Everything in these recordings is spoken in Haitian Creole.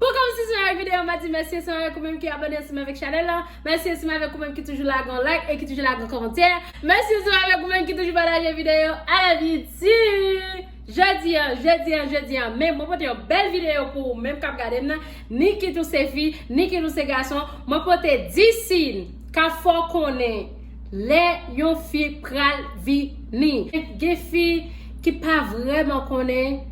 Pou kòm si sou yon video ma di mèsi ansanm avèk ou menm ki abòne ansanm avèk chanèl la mèsi ansanm avèk ou menm ki toujou lage yon like e ki toujou lage yon kòmantè mèsi ansanm avèk ou menm ki toujou pataje video a la bidi jodi an jodi an jodi an menm mwen pote yon bèl video pou ou menm kap gadem nan ni kit ou se fi ni kit ou se gason mwen pote 10 siy ka fè w konnen lè yon fi pral vini gen fi ki pa vrèman konnen.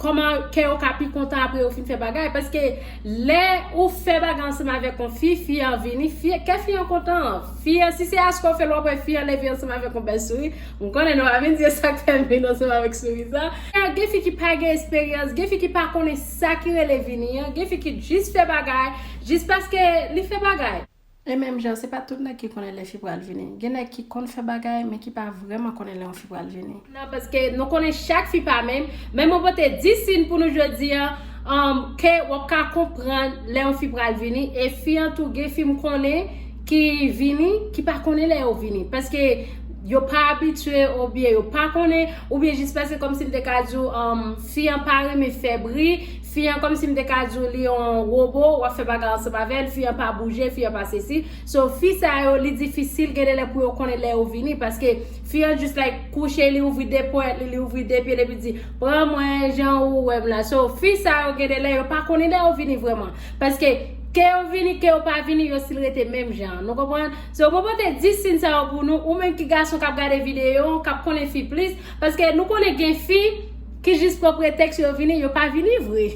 Koman kè yo ka pi kontan apre yo fin fè bagay paske lè ou fè bagay ansanm avèk yon fi, fi an vini, fi kè fi an kontan. Fi an si se achte ou fèl wap wè fi an leve ansanm avèk yon bèl souri, m konnen nou pa vin di e sak fèl vin ansanm avèk souri sa. Gen fi ki pa gen esperyans, gen fi ki pa konnen sa ki rele vini an, gen fi ki jis fè bagay, jis paske li fè bagay. E menm jan, se pa tout nèg ki konnen lè fi pral vini. Gen nèg ki konn fè bagay, men ki pa vrèman konnen lè yon fi pral vini. Nan, paske nou konnen chak fi pa menm. Men mwen pote 10 sin pou nou jodi an, um, ke w ap ka konprann lè yon fi pral vini. E fi an tou, gen fi m konnen ki vini, ki pa konnen lè yo vini. Paske yo pa abitye, oubyen yo pa konnen, oubyen jis paske kòmsi m te ka di w, um, fi an pa renmen fè bri. Fi an kòmsi m te ka di w li on robo, w ap fè bagay ansanm avè l, fi an pa bouje, fi an pa sesi. So fi sa yo li difisil gen de lè pou yo konnen lè yo vini paske fi an just like kouche li ouvri 2 ponyèt li, li ouvri 2 pye l epi l di pran mwen jan ou wè m la. So fi sa yo gen de lè yo pa konnen lè yo vini vrèman paske ke yo vini ke yo pa vini yo stil rete menm jan an. Nou konprann? So mwen pote 10 sin sa yo pou nou, ou menm ki gason k ap gade videyo an, k ap konnen fi plis paske nou konnen gen fi Ki jis pran pretèks yo vini, yo pa vini vre.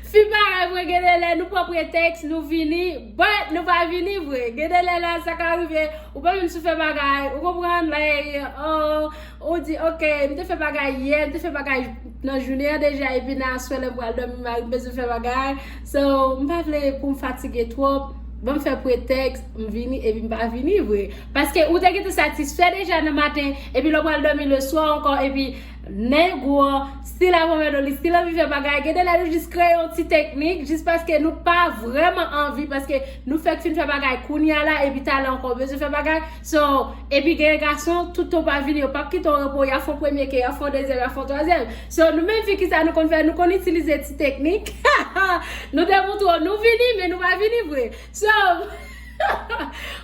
Fi parèy mwen gen de lè nou pran pretèks nou vini, but nou pa vini vre. Gen de lè la sa ka rive ou pa menm sou fè bagay, ou konprann, like oh ou di ok m te fè bagay yè, m te fè bagay nan jounen an deja epi nan aswè lè m pral dòmi marim bezwen fè bagay so m pa vle pou m fatige twòp, banm fè pretèks m vini epi m pa vini vre. Paske ou te gentan satisfè deja nan maten, epi lè w pral dòmi leswa ankò, epi nan yon gwo stil a mòmèt w, li stil anvi fè bagay, gen de lè nou jis kreye yon ti teknik, jis paske nou pa vrèman anvi, paske nou fèk fin fè bagay kounye a la, epi talè ankò w bezwen fè bagay, so, epi gen gason, tout tan w pa vini, yo p ap kite w repo, y ap fè w premye ke, y ap fè w dezyèm, y ap fè w twazyèm. So, nou menm fi ki sa nou konn fè, nou konn itilize ti teknik, ha ha, nou demontre w nou vini, men nou pa vini vre. So.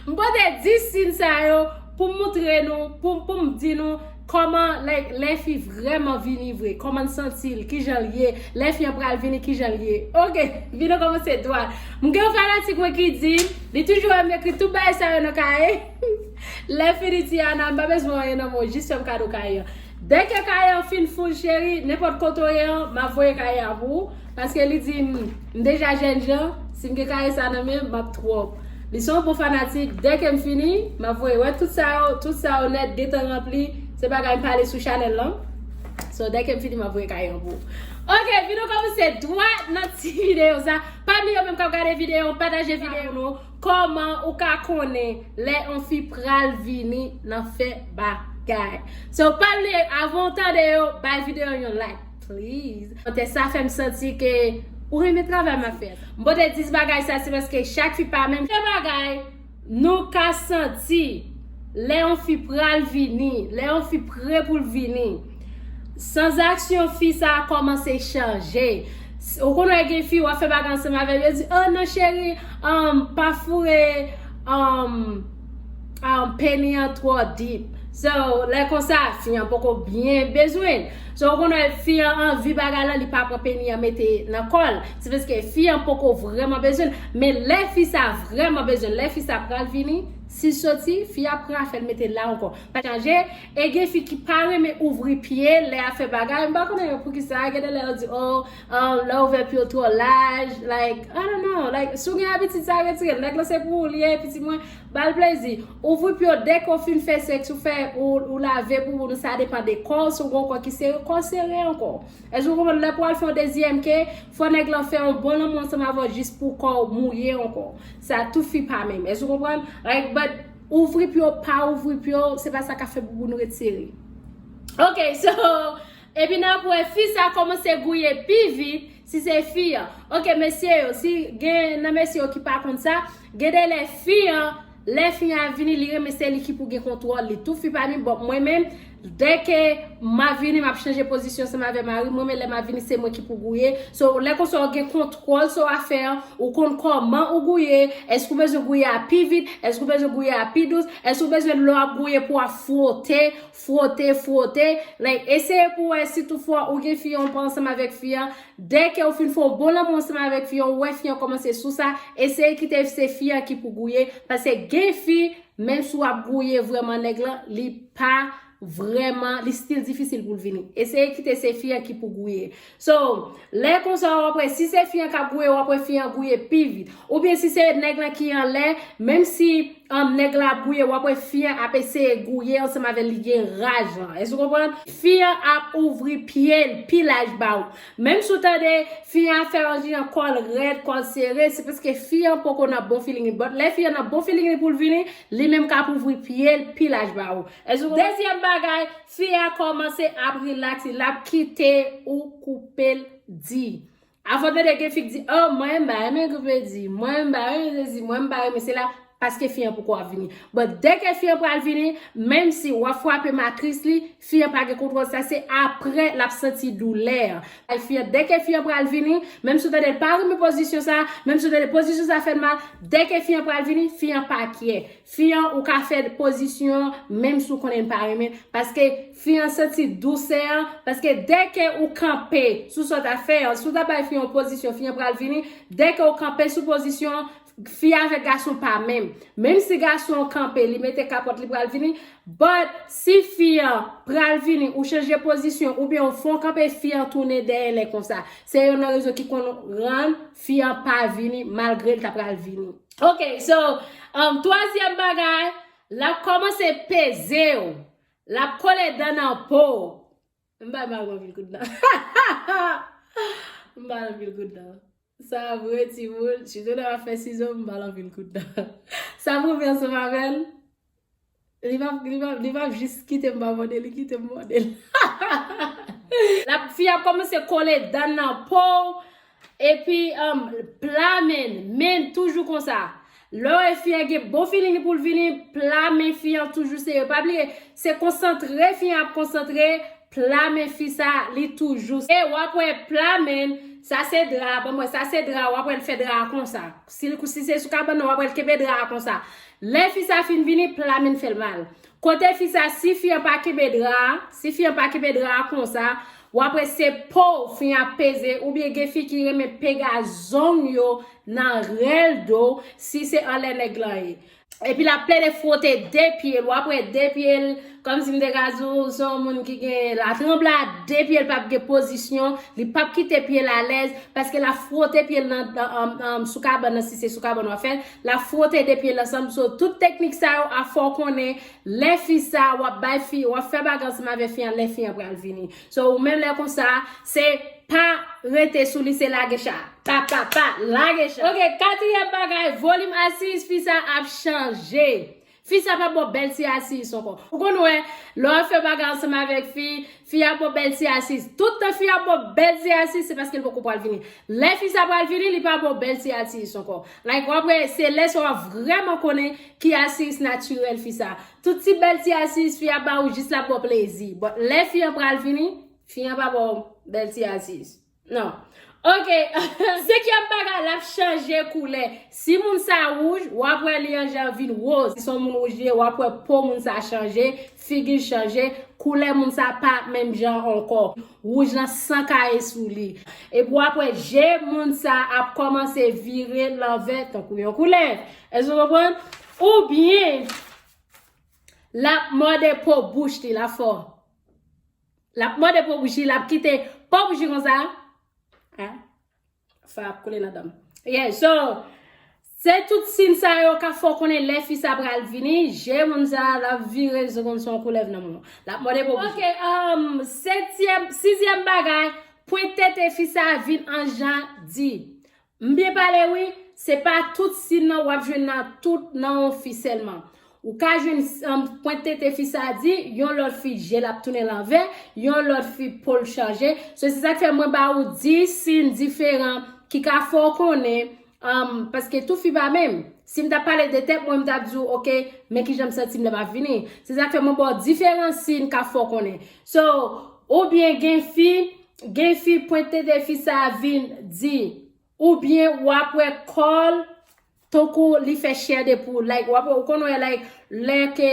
M pote 10 sin sa yo pou m moutre nou, pou m di nou kòman lè yon fi vrèman vini vre, kòman l santi l, kijan l ye, lè fi an pral vini kijan l ye. Ok, vin nou kòmanse dwat. M gen yon fanatik mwen ki di, li toujou wè m ekri tout bagay sa yo nan kaye, lè fini Tiana m pa bezwen anyen nan men w, jis fè m kado kaye an. Dès que kaye an fin full cheri, nenpòt kote w ye an, m ap voye kaye a pou ou, paske li di m m deja jèn jan, si m gen kaye sa nan men m, m ap twòp. Li se yon bon fanatik, dès que m fini, m ap voye. Wè tout sa yo, tout sa yo nèt gentan ranpli, se bagay m pale sou chanèl lan. So, dès que m fini, m ap voye kaye an pou ou. Ok, videyo kòmanse dwat nan ti videyo sa. Pa bliye ou menm k ap gade videyo an, pataje videyo an pou nou. Koman ou ka konnen lè yon fi pral vini nan fè bagay. So pa bliye avan ou tande yo bay video yon like please. Kòmantè sa fèm santi ke ou renmen travay map fè. M pote 10 bagay sa se paske chak fi pa menm. Premye bagay nou ka santi lè yon fi pral vini, lè yon fi pre poul vini. Sans aksyon fi sa a kòmanse chanje. Ou konn wè gen fi wap fè bagay ansanm avèl yo di oh non cheri um pa foure um um peni an twò deep. So lè konsa fi an poko byen bezwenl. So ou konn wè fi an anvi bagay lan li pa pran peni an mete nan kòl. Se paske fi an poko vrèman bezwenl. Men lè fi sa vrèman bezwenl, lè fi sa pral vini, sil soti, fi a pran afèl metel la ankò. Chanje. E gen fi ki pa renmen ouvri pye lè yap fè bagay, m pa konnen yo poukisa, gen de lè yo di oh lè ouvè pye w twò laj, like I don't know, like si w gen abitid sa retire l, nèg lan se pou ou li ye, pitit mwen, ba l plezi, ouvri pye w dè ke w fin fè sèks ou fè ou lave bouboun ou sa depan de kò w, si w gen yon kò ki sere, kò w sere ankò. Èske w konprann, lè pou al fè yon dezyèm ke, fò nèg lan fè yon bon lanmou ansanm avè w jis pou kò w mouye ankò. Sa tout fi pa menm, èske w konprann, like but. Ouvri pou yo pa ouvri pou yo, se pa sa ka fè bouboun retire. Ok, so, epi n ap wè fi sa kòmanse gouye pi vit, si se fi an. Ok, mesye yo, si gen nan mesye yo ki pa konn sa, gen de lè fi an, lè fi an ap vini, li renmen se li ki pou gen kontwòl li tou. Fi pa di, bon, mwen menm, Dèke ma vini map chanje pozisyon seman avè marim mwen men lè ma vini se mwen ki pou gouye so lè konsa ou gen kontwòl sou afè an ou konn kòman ou gouye èske ou bezwen gouye a pi vit èske ou bezwen gouye a pi dous èske ou bezwen lè wap gouye pou wap fwote fwote fwote like eseye pou wè si tout fwa ou gen fi an ou pa ansanm avèk fi an dèke ou fin fè yon bon lanmou ansanm avèk fi an ou wè fi an kòmanse sou sa eseye kite se fi an ki pou gouye paske gen fi Menm si w ap gouye vrèman nèg lan, li pa vrèman, li stil difisil pou l vini. Eseye kite se fi an ki pou gouye. So, lè konsa w ap wè, si se fi an k ap gouye, w ap wè fi an gouye pi vit. Oubyen si se nèg lan ki anlè, menm si nèg lan ap gouye, w ap wè fi an ap eseye gouye ansanm avè l, li gen raj lan. Èske w konprann? Fi an ap ouvri pye l pi laj ba ou. Menm si w tande fi an ap fè yon jan kò l rèd, kò l sere, se paske fi an poko nan bon feeling li. But lè fi an nan bon feeling li pou l vini, li menm k ap ouvri pye l pi laj ba ou. Dezyèm bagay, fi a kòmanse ap relax li, l ap kite ou koupe l di. Afè w tande gen fi k di, oh mwen m pa renmen koupe di, mwen m pa renmen sesi, mwen m pa renmen sela. Paske fi an poko ap vini. But dèke fi an pral vini, menm si wap fwape matris li, fi an pa gen kontwòl sa se apre lap santi doulè an. Bay fi an dèke fi an pral vini, menm si w tande l pa renmen pozisyon sa, menm si w tande pozisyon sa fè l mal, dèke fi an pral vini, fi an pa kyè. Fi an ou ka fè pozisyon an menm si w konnen li pa renmen, paske fi an santi dousè an, paske dèke ou kanpe sou sa w ta fè an, si w ta bay fi an yon pozisyon fi an pral vini, dèke ou kanpe sou pozisyon an, Fi avèk gason pa menm. Menm si gason an kanpe, li mete kapòt, li pral vini. But, si fi an pral vini, ou chanje pozisyon, oubyen ou fè yon kanpe, fi an tounen dèyè lè konsa. Se yonn nan rezon ki konn rann fi an pa vini, malgre li ta pral vini. Ok, so, um, twazyèm bagay, l ap kòmanse peze ou. L ap kole dan nan po ou. M bay mal man vil kout nan. M bay mal vil kout nan. Sa vre ti moun. Ti moun nan ap fè sizo m bay mal vil kout nan. Sa vre vè se pa vè l. Li pap li pap li pap jis kite m pa mòde li kite m mòde l. Fi a kòmanse kole dan nan po w. Epi um pla men, men toujou konsa. Lè wè fi a gen bon feeling li pou l vini, pla men fi an toujou sere. Pa bliye, se konsantre fi an ap konsantre, pla men fi sa li toujou. E wap wè pla men, sa se dra, banm wè, sa se dra, wap wè l fè dra a konsa. Si se sou kabann nan wap wè l kenbe dra a konsa. Lè fi sa fin vini, pla men fè l mal. Kote fi sa si fi an pa kenbe dra a si fi an pa kenbe dra a konsa wap wè se pow fi ap peze oubyen gen fi ki renmen pega zong yo nan rèl do si se anlè nèg lan ye epi lap plede fwote de pyel wap wè de pyel kòmsi m te ka di w se yon moun ki gen la tranbla de pyel pap gen pozisyon li pap kite pyel alèz paske lap fwote pyel nan sou kabann nan si se sou kabann wap fèl La frote de pye l ansanm so tout teknik sa yo a fè w konnen lè fi sa w ap bay fi w ap fè bagay ansanm avè fi an lè fi an pral vini so ou menm lè konsa se pa rete sou li se lage cha pa pa pa lage cha. Ok katriyèm bagay volim asiz fi sa ap chanje Fi sa pa bo bel ti asis anko. Ou konn we le wap fe bagay ansanm avek fi, fi a bo bel ti asis. Tout tan fi a bo bel ti asis se paske li poko pwal vini. Le fi sa pwal vini li pa bo bel ti atis anko. Like wap we se le sa wap vreman konnen ki asis natirel fi sa. Tout ti bel ti asis fi a ba ou jis lap bo plezi. But le fi an pral vini, fi an pa bo bel ti asis. Non. Ok. Se kèm bagay la ap chanje koulè. Si moun sa wouj, w ap wè li an jan vin woz. Si son moun wouj li ye, w ap wè po moun sa chanje, figi l chanje, koulè moun sa pa menm jan ankò. Wouj lan san kaye sou li. Epi w ap wè je moun sa ap kòmanse vire lanvè tankou yon koulèv. Èske nou konprann? Oubyen l ap mòde po bouch li la fò. Lap mòde po bouji lap kite po bouji konsa hein sa ap koule nan danm yeah so se tout sin sa yo kap fè w konnen lè fi sa pral vini je moun sa lap vire se konn se yon koulèv nan menw lap mòde po bouji ok humm setyèm sizyèm bagay pwent tete fi sa vin an jan di M byen pale wi, se pa tout sin nan wap jwenn nan tout nan yon fi sèlman. Ou ka jwenn sin pwent tete fi sa di, yon lòt fi jel ap tounen lanvè, yon lòt fi pol chanje, so se sak fè mwen ba ou 10 sin diferan ki ka fè w konnen um paske tout fi pa menm. Si m tap pale de tèt mwen m tap di w ok men kijan m santi m lè map vini. Se sak fè mwen ba w diferan sin ka fè w konnen. So ou byen gen fi Gen fi pwent tete fi sa vin di ou byen wap wè kòl tonkou li fè chè de poul like wap wè ou konn wè like lè ke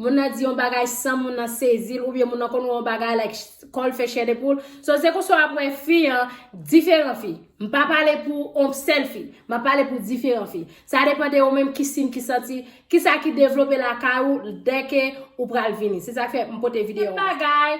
moun nan di yon bagay san moun nan sezil ou byen moun nan konn wè yon bagay like kòl fè chè de poul so se konsa wap wè fi an diferan fi m pa pale pou on sèl fi map pale pou diferan fi sa depan de ou menm ki sin ki santi kisa ki devlope lakay ou dè ke ou pral vini se sak fè m pote videyo an.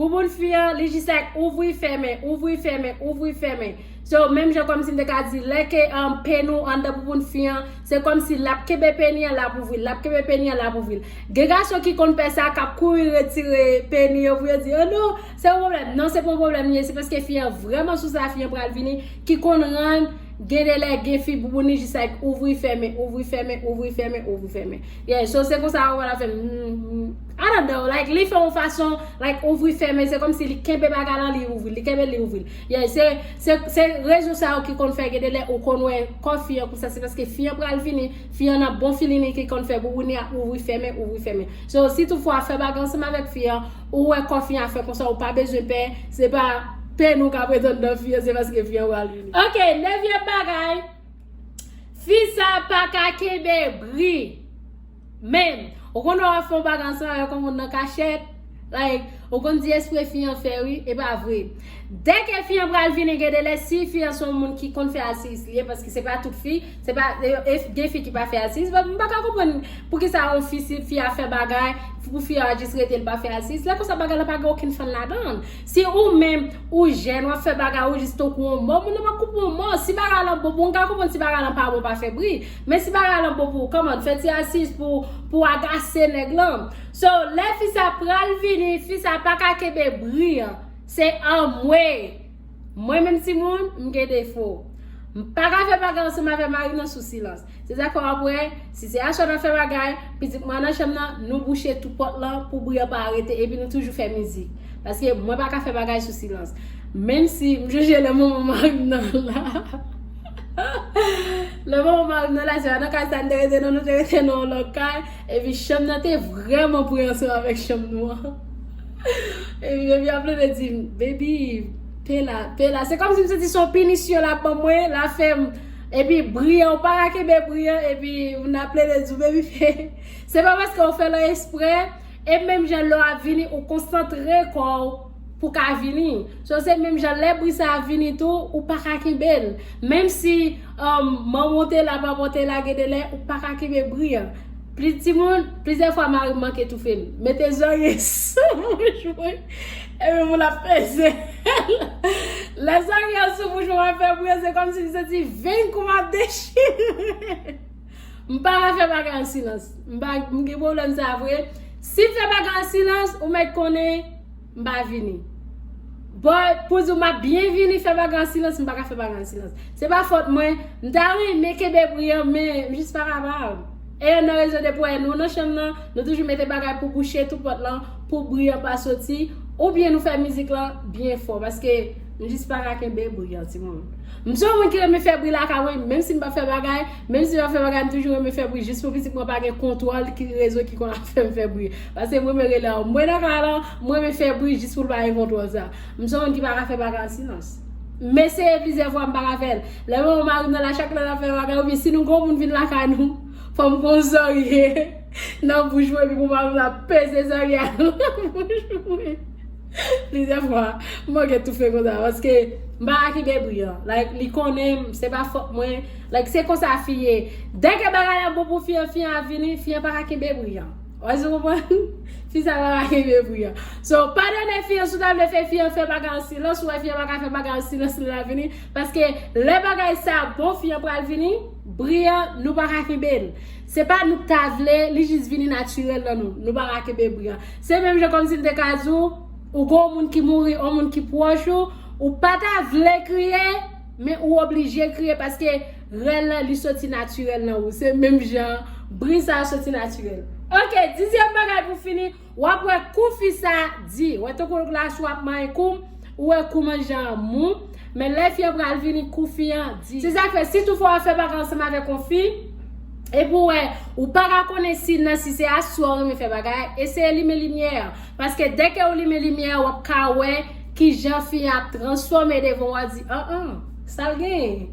Bouboun fi an, li jis like ouvri fèmen, ouvri fèmen, ouvri fèmen. So, menm jan kòmsi m te ka di, lè ke um, peni w anndan bouboun fi an, se kòmsi l ap kenbe peni an, l ap ouvri l, l ap kenbe peni an, l ap ouvri l. Gen gason ki konn fè sa, k ap kouri retire peni yo pou yo di, oh non, se yon pwoblèm. Non, se pa yon pwoblèm li ye, se paske fi an vrèman sou sa fi an pral vini, ki konn rann gen de lè gen fi bouboun li jis like ouvri fèmen, ouvri fèmen, ouvri fèmen, ouvri fèmen. Yeah, so se konsa ou wè l ap fè, mm, mm. I don't know like li fè yon fason like ouvri fèmen se komsi li kenbe bagay lan li ouvril li kenbel li ouvril yeah se se se rezon sa yo ki konn fè gede lè ou konn wè kò fi an konsa se paske fi an pral vini fi an nan bon filini ki konn fè bouboune a ouvri fèmen ouvri fèmen so si tout fwa fè bagay ansanm avèk fi an ou wè kò fi an fè konsa ou pa bezwen pè se pa pè nou ka pretann nan fi an se paske fi an pral vini ok nevyèm bagay fi sa paka kenbe bri. Men, ou konn lè wap fè yon bagay ansanm avèk yon moun nan kachèt, like, ou konn di espre fi an fè wi, e pa vre. Dè ke fi an pral vini gen de lè si fi an se yon moun ki konn fè asiyis li ye, paske se pa tout fi, se pa, e gen fi ki pa fè asiyis, but m pa ka konprann poukisa yon fi si fi a fè bagay, pou fi a jis rete li pa fè asiyis, lè konsa bagay la pa gen okenn fann ladann. Si ou menm ou jèn wap fè bagay ou jis tankou yon mò, moun nan pap konprann yon mò, si bagay lan bon, bon m ka konprann si bagay lan pa bon pa fè bri, Men si bagay lan bon pou ou come on fè ti asis pou pou agase nèg lan. So lè fi sa pral vini fi sa paka kenbe bri an se anmweyy mwen menm timoun m gen defo m paka fè bagay ansanm avè marim nan sou silans se zafè wap wè si se aswè nap fè bagay pitit mwen nan chanm nan nou bouche tou pòt lan pou bri an pa rete epi nou toujou fè mizik paske mwen paka fè bagay sou silans menm si m jije lè moman marim nan la. Lè manman m al nan la, se pa nan kay sa n te rete non, nou te rete nan yon lòt kay. Epi chanm nan te vrèman pre ansanm avèk chanm nou an. Epi Beby ap plede di m, Beby, pe la, pe la. Se kòmsi m santi se yon pinisyon l ap ban mwen, l ap fè m. Epi bri an, ou pa ka kenbe bri an, epi m nan plede di w, Beby pe. Se pa paske ou fè l an espre, e menm jan lè w ap vini, ou konsantre kò w. Pou ka vini. So se menm jan lè bri sa ap vini tou ou pa ka kenbe l. Menm si manman w te la, papa w te la gen de lè ou pa ka kenbe bri an. Plis timoun, plizyè fwa mari m manke toufe m. Mete zorye sou bouch mwen epi pou l ap peze l. Lè zorye an sou bouch mwen m ap fè bri an se kòmsi m santi veng kou m ap dechire. M pa ka fè bagay an silans. M pa, m gen pwoblèm sa a vre. Si m fè bagay an silans, ou mèt konnen m pa vini. But, pou di w m ap byen vini fè bagay an silans, m pa ka fè bagay an silans. Se pa fòt mwen. M ta renmen kenbe pri an, men m jis pa kapab. E yonn nan rezon de pou w wè nou nan chanm nan, nou toujou mete bagay pou bouche tout pòt lan, pou bri an pa soti, oubyen nou fè mizik lan byen fò. Paske. M jis pa ka kenbe bri an timoun. M se yon moun ki renmen fè bri lakay mwen, menm si m pa fè bagay, menm si m ap fè bagay m toujou renmen fè bri jis pou pitit mwen pa gen kontwòl ki rezon ki konn ap fè m fè bri. Paske m renmen rele anmwe nan kay lan, m renmen fè bri jis pou l pa gen kontwòl sa. M se yon moun ki pa ka fè bagay an silans. M eseye plizyè fwa m pa ka fè l. Lè m wè mari m nan la chak lè l ap fè bagay oubyen si nou gen yon moun vin lakay nou, fò m gon zòrye nan bouch mwen epi pou mari m la peze zòrye a nan bouch mwen. Plizyè fwa mwen gen toufe konsa paske m pa aki debri an. Like li konnen m, se pa fòt mwen. Like se konsa fi ye. Dè ke bagay la bon pou fi an, fi an ap vini, fi an pa ka kenbe bri an. Ou wè sa m konprann? Fi sa pa ka kenbe bri an. So, padone fi an si w ta vle fè fi an fè bagay an silans, ou wè fi an pa ka fè bagay an silans li la vini. Paske lè bagay sa bon fi an pral vini, bri an nou pa ka kenbe l. Se pa nou k ta vle, li jis vini natirèl nan nou. Nou pa make bebri a. Se menm jan kòmsi m te ka di w, ou gen yon moun ki mouri, yon moun ki pwòch ou, ou pa ta vle kriye, men ou oblije kriye paske rèl la li soti natirèl nan ou. Se menm jan bri sa a soti natirèl. Ok, dizyèm bagay pou fini. Wap wè kou fi sa di. Wè tankou l la sou ap manyen kou m ou wè kouman jan an mou men lè fi an pral vini kou fi an di. Se sak fè si tou fò wap fè bagay ansanm avèk yon fi epi w wè ou paka konnen siy nan si se asou a ou renmen fè bagay eseye limen limyè an paske dèke ou limen limyè an wap ka wè kijan fi an ap transfòme devan w a di an an. Sal genyen.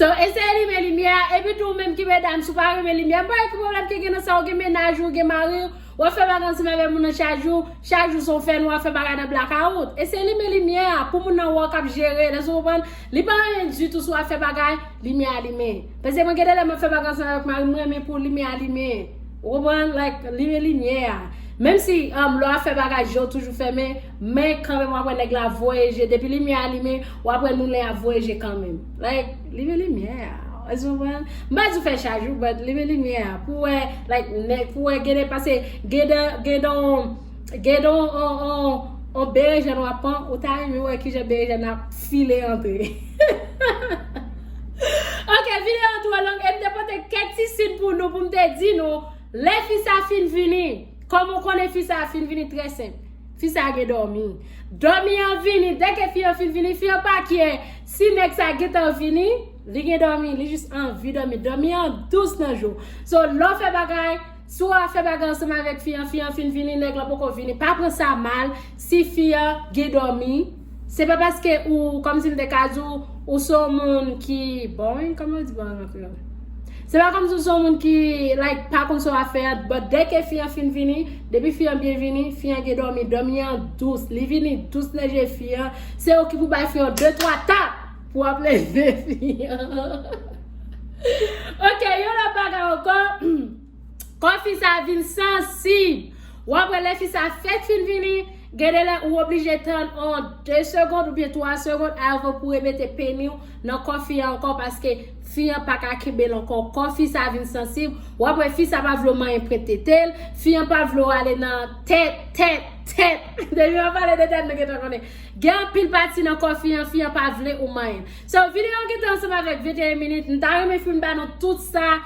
So eseye limen limye a epi tou ou menm ki medam sou pa renmen limye m pa wè ki pwoblèm ki gen nan sa ou gen mennaj ou gen mari ou wap fè bagay ansanm avè moun nan chak jou chak jou son fè nwa fè bagay nan blakawout eseye limen limye a pou moun nan wè w kap jere lè sou konprann li pa anyen ditou sou ap fè bagay limye a limen pase mwen gen de lè map fè bagay ansanm avèk mari m renmen pou limye a limen ou konprann like limen limye a menm si um lè wap fè bagay je w toujou fèmen Men kanmenm wap wè nèg la ap voye je depi limyè a limen wap wè noulen ap voye je kanmenm like limen limyè a èske ou konprann m pa di w fè chaj ou but limen limyè a pou wè like nèg pou wè gen nèg pase gen de gen de on gen de on on on on berejèn wap pran ou ta renmen wè kijan berejèn nan ap file antre hehehehe ok videyo an twò long e m te pote kèk ti sin pou nou pou m te di nou lè fi sa fin vini kòman w konnen fi sa fin vini trè senp. Fi sa gen domi. Domi an vini dè ke fi an fin vini fi an pa kè si nèg sa gentan vini li gen domi li jis anvi domi. Domi an dous nan jou. So lè w fè bagay si w a fè bagay ansanm avèk fi an fi an fin vini nèg lan poko vini pa pran sa mal si fi an gen domi. Se pa paske ou, kòmsi m te ka di w, ou se yon moun ki boring, kòman yo di boring an kreyòl? Se pa kòmsi ou se yon moun ki, like, pa konn sa w ap fè a, but dè ke fi an fin vini, depi fi an byen vini, fi an gen dòmi, dòmi an dous, li vini dous nan je fi an, se ou ki pou bay fi yon de twa tap pou ap leve fi an. Ok, yon lòt bagay ankò. Kò fi sa vin sansib. Wap wè lè fi sa fèk fin vini, gen de lè ou oblije tann on 2 segond oubyen 3 segond avan pou remete peni w nan kò fi an ankò paske fi an paka kenbe l ankò. Kò fi sa vin sansib. Wap wè fi sa pa vle w manyen pwent tete l, fi an pa vle w ale nan tèt, tèt, tèt. Depi mwen pale de tèt nou gentan konnen. Gen anpil pati nan kò fi an, fi an pa vle ou manyen l. So, videyo an gentan ansanm avèk 21 minit. M ta renmen fin ba nou tout sa.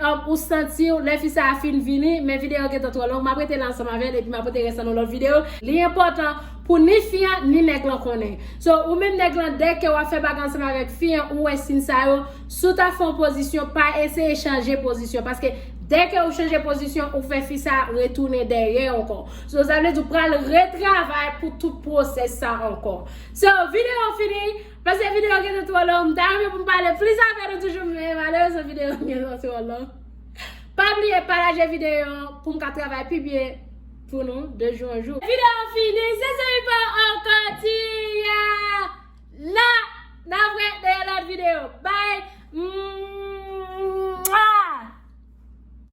Humm ou santiw lè fi sa a fin vini men video an gentan twò long map rete la ansanm avèl epi ma pote rès lan nan lòt video. Li enpòtan Pou ni fi an ni nèg lan konnen so ou menm nèg lan dè ke wap fè bagay ansanm avèk fi an ou wè sin sa yo sou ta fon pozisyon pa eseye chanje pozisyon paske dè ke ou chanje pozisyon ou fè fi sa a retounen dèyè ankò so sa vle di ou pral retravay Pou tout pwosès sa ankò so video an fini Paske video gen te tro long, m ta renmen pou m pale plis avè nou toujou men malerezman video an gen te tro long. Pa bliye pataje video an pou m ka travay pi byen pou nou de jou an jou. Video an fini, se se wi pa ankò ti ya la n ap wè nan yon lòt video. Bye! Mwaa!